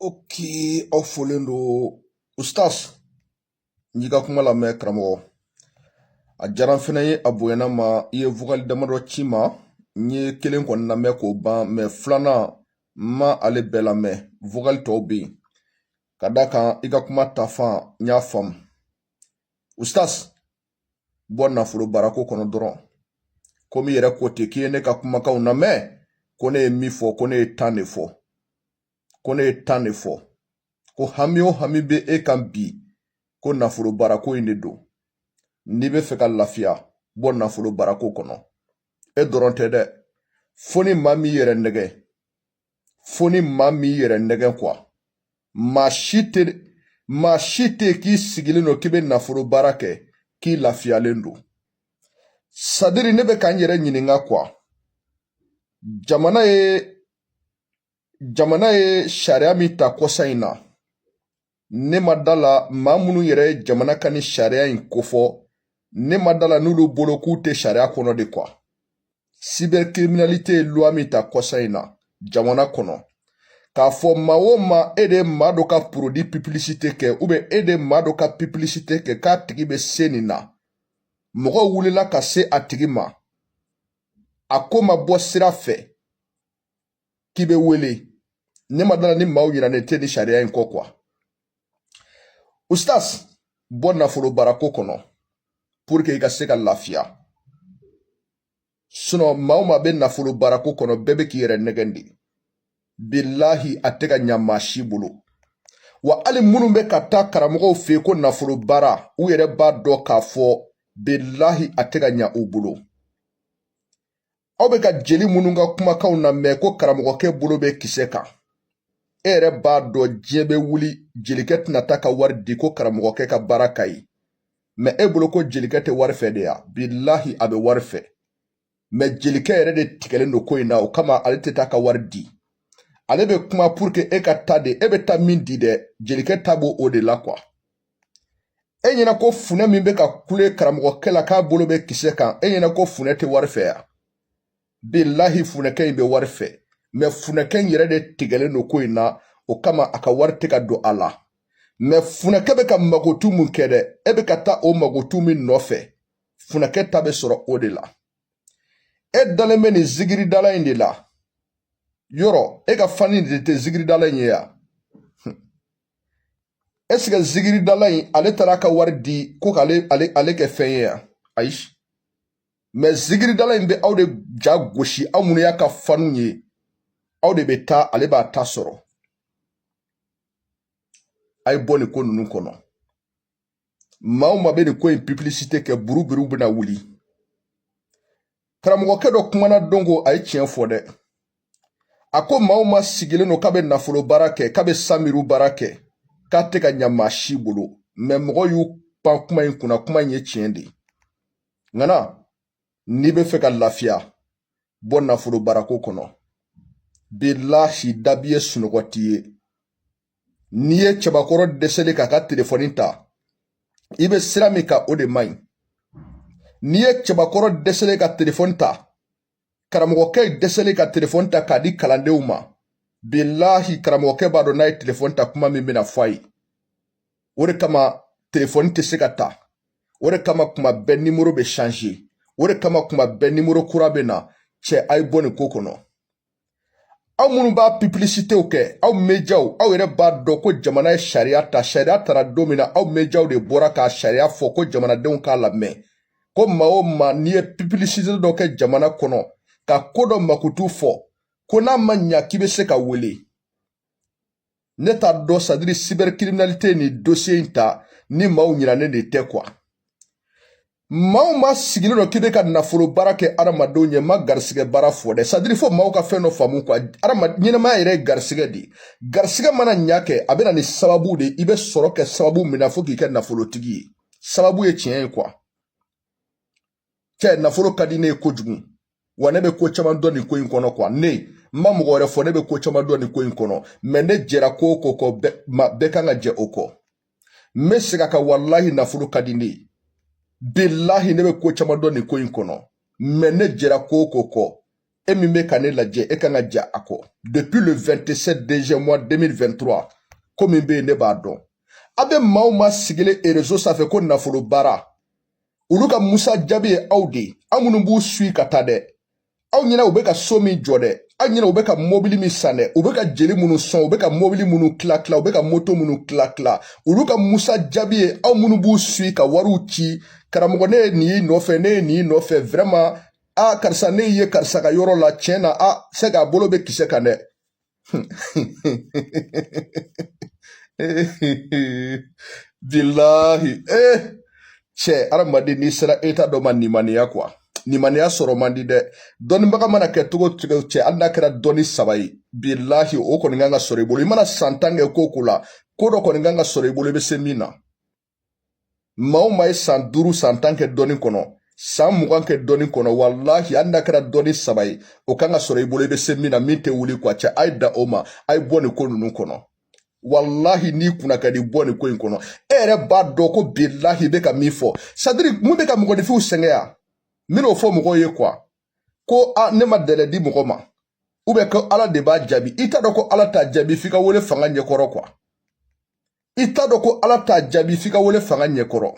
Oke aw folen don ustaz n y'i ka kuma lamɛn karamɔgɔ a diyara n fɛnɛ ye a bonyana n ma i ye vokali damadɔ ci n ma n ye kelen kɔni lamɛn k'o ban mɛ filanan n ma ale bɛɛ lamɛn vokali tɔw bɛ yen ka d'a kan i ka kuma tafan n y'a faamu ustaz bɔ nafolo baarako kɔnɔ dɔrɔn komi i yɛrɛ ko ten k'i ye ne ka kumakanw lamɛn ko ne ye min fɔ ko ne ye tan de fɔ ko ne ye tan de fɔ ko hami o hami bɛ e kan bi ko nafolo baarako in de don n'i bɛ fɛ ka lafiya bɔ nafolo baarako kɔnɔ e dɔrɔn tɛ dɛ fo ni maa min y'i yɛrɛ nɛgɛ fo ni maa min y'i yɛrɛ nɛgɛn kuwa maa si tɛ k'i sigilen don k'i bɛ nafolo baara kɛ k'i lafiyalen don sadiri ne bɛ ka n yɛrɛ ɲininka kuwa jamana ye jamana ye sariya min ta kɔsa in na ne ma da la maa minnu yɛrɛ ye jamana ka ni sariya in kofɔ ne ma da la n'olu bolo k'u tɛ sariya kɔnɔ de kuwa cybercriminalité ye loi min ta kɔsa in na jamana kɔnɔ k'a fɔ maa o maa e de ye maa dɔ ka porodi piplisite kɛ ubiyɛn e de ye maa dɔ ka piplisite kɛ k'a tigi bɛ se nin na mɔgɔw wulila ka se a tigi ma a ko ma bɔ sira fɛ k'i bɛ wele ne ma da la ni maaw ɲinɛnen tɛ ni sariya in kɔ kuwa ustaz bɔ nafolo baarako kɔnɔ pour que i ka se ka lafiya sinɔn maa o maa bɛ nafolo baarako kɔnɔ bɛɛ bɛ k'i yɛrɛ nɛgɛn de bilahi a tɛ ka ɲa maa si bolo wa hali minnu bɛ ka taa karamɔgɔw fɛ ko nafolo baara u yɛrɛ b'a dɔn k'a fɔ bilahi a tɛ ka ɲa u bolo aw bɛ ka jeli minnu ka kumakanw lamɛn ko karamɔgɔkɛ bolo bɛ kisɛ kan e yɛrɛ b'a dɔn diɲɛ bɛ wuli jelikɛ tɛna taa ka wari di ko karamɔgɔkɛ ka baara ka ɲi mɛ e bolo ko jelikɛ tɛ wari fɛ de ya bilahi a bɛ wari fɛ mɛ jelikɛ yɛrɛ de tigɛlen don ko in na o kama ale tɛ taa ka wari di ale bɛ kuma pour que e ka taa de e bɛ taa min di dɛ jelikɛ ta b'o de la kuwa e ɲɛna ko funɛ min bɛ ka kule karamɔgɔkɛ la k'a bolo bɛ kisɛ kan e ɲɛna ko funɛ tɛ wari fɛ ya bilahi funɛkɛ in bɛ wari fɛ mɛ funɛkɛ in yɛrɛ de tigɛlen don ko in na o kama a ka wari tɛ ka don a la mɛ funɛkɛ bɛ ka magotu min kɛ dɛ e bɛ ka taa o magotu min nɔfɛ funɛkɛ ta bɛ sɔrɔ o de la e dalen bɛ nin zigiridala in de la yɔrɔ e ka fani de tɛ zigiridala in ye ya ɛsike zigiridala in ale taara ka wari di ko k'ale kɛ fɛn ye yan ayi mɛ zigiridala in bɛ aw de ja gosi aw minnu y'a ka fanu ye aw de bɛ taa ale b'a ta sɔrɔ a ye bɔ nin ko ninnu kɔnɔ maa o maa bɛ nin ko in pipilisite kɛ buruburuw bɛna wuli karamɔgɔkɛ dɔ kumana don ko a ye tiɲɛ fɔ dɛ a ko maa o maa sigilen don k'a bɛ nafolo baara kɛ k'a bɛ samiru baara kɛ k'a tɛ ka ɲa maa si bolo mɛ mɔgɔw y'u pan kuma in kunna kuma in ye tiɲɛ de ye ŋana n'i bɛ fɛ ka lafiya bɔ nafolo baarako kɔnɔ bilahi dabi ye sunɔgɔ tiɲɛ n'i ye cɛbakɔrɔ dɛsɛlen k'a ka telefɔni ta i bɛ sira min kan o de man ɲi n'i ye cɛbakɔrɔ dɛsɛlen ka telefɔni ta karamɔgɔkɛ dɛsɛlen ka telefɔni ta k'a di kalandenw ma bilahi karamɔgɔkɛ b'a dɔn n'a ye telefɔni ta kuma min bɛna fɔ a ye o de kama telefɔni tɛ se ka ta o de kama kuma bɛɛ nimoro bɛ sanze o de kama kuma bɛɛ nimoro kura bɛ na cɛ a ye bɔ nin ko kɔnɔ aw minnu b'a pipilisitew kɛ aw mejaw aw yɛrɛ b'a dɔn ko jamana ye sariya ta sariya tara don min na aw mejaw de bɔra k'a sariya fɔ ko jamanadenw k'a lamɛn ko maa o maa n'i ye pipilisite dɔ kɛ jamana kɔnɔ ka ko dɔ makutu fɔ ko n'a ma ɲa k'i bɛ se ka wele ne t'a dɔn sadiri cybercriminalité ni dossier in ta ni maaw ɲinanen de tɛ kuwa maa o maa sigilen don k'i bɛ ka nafolo baara kɛ adamadenw ye n ma garisigɛ baara fɔ dɛ sadiri fo maaw ka fɛn dɔ faamu kuwa adama ɲɛnamaya yɛrɛ ye garisigɛ de ye garisigɛ mana ɲa kɛ a bɛ na ni sababu de ye i bɛ sɔrɔ kɛ sababu min na fo k'i kɛ nafolotigi ye sababu ye tiɲɛ ye kuwa cɛ nafolo ka di ne ye kojugu wa ne bɛ ko caman dɔn nin ko in kɔnɔ kuwa ne n ma mɔgɔ wɛrɛ fɔ ne bɛ ko caman dɔn nin ko in kɔnɔ mɛ ne jɛra ko o ko kɔ bɛɛ kan ka jɛ o kɔ n bɛ segin a kan walahi nafolo ka di ne ye bilahi ne bɛ ko caman dɔn nin ko in kɔnɔ mɛ ne jɛra ko o ko kɔ e min bɛ ka ne lajɛ e kan ka jɛ a kɔ depuis le 27 deuxième mois 2023 ko min bɛ yen ne b'a dɔn a bɛ maa o maa sigilen erezo sanfɛ ko nafolo baara olu ka musa jaabi ye aw de ye aw minnu b'u sui ka taa dɛ aw ɲɛna u bɛ ka so min jɔ dɛ aw ɲɛna u bɛ ka mobili min san dɛ u bɛ ka jeli minnu sɔn u bɛ ka mobili minnu tila tila u bɛ ka moto minnu tila tila olu ka musa jaabi ye aw minnu b'u sui ka wariw ci karamɔgɔ ne ye nin y'i nɔfɛ ne ye nin y'i nɔfɛ vraiment a karisa ne ye karisa ka yɔrɔ la tiɲɛ na a se k'a bolo bɛ kisɛ kan dɛ bilahi ee eh, cɛ adamaden n'i sera eta dɔ ma nimaniya kuwa nimaniya sɔrɔ man di dɛ dɔnnibaga mana kɛ cogo cogo cɛ hali n'a kɛra dɔnni saba ye bilahi o kɔni kan ka sɔrɔ i bolo i mana san tan kɛ ko ko la ko dɔ kɔni kan ka sɔrɔ i bolo i bɛ se min na maa o maa ye san duuru san tan kɛ dɔnni kɔnɔ san mugan kɛ dɔnni kɔnɔ walahi hali n'a kɛra dɔnni saba ye o kan ka sɔrɔ i bolo i bɛ se min na min tɛ wuli kuwa cɛ a ye da o ma a ye bɔ nin ko ninnu kɔnɔ walahi n'i kunna ka di bɔ nin ko in kɔnɔ e yɛrɛ b'a dɔn ko bilahi bɛ ka min fɔ sadiri mun bɛ ka mɔgɔninfinw sɛgɛn yan n bɛn'o fɔ mɔgɔw ye kuwa ko ne ma dɛlɛ di mɔgɔ ma ubiyɛn ko ala de b'a jaabi i t'a dɔn ko ala t'a jaabi f'i ka wele fanga ɲɛkɔrɔ kuwa i t'a dɔn ko ala t'a jaabi f'i ka wele fanga ɲɛkɔrɔ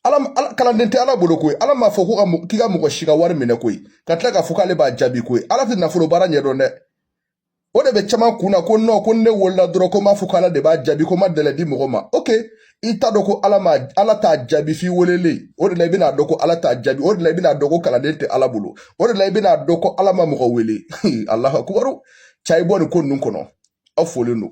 ala kalanden tɛ ala bolo koyi ala m'a fɔ ko k'i ka mɔgɔ si ka wari minɛ koyi ka tila k'a fɔ k'ale b'a jaabi koyi ala tɛ nafolo baara ɲɛdɔn dɛ o de bɛ caman kun na ko nɔ ko ne welela dɔrɔn ko n b'a fɔ ko ala de b'a jaabi ko n ma dɛlɛ di mɔgɔ ma ok i t'a dɔn ko ala ma ala t'a jaabi f'i welelen o de la i bɛna dɔn ko ala t'a jaabi o de la i bɛna dɔn ko kalanden tɛ ala bolo o de la i bɛna dɔn ko ala ma mɔgɔ wele alahu akubaru cɛ a ye bɔ nin ko ninnu kɔnɔ aw folen don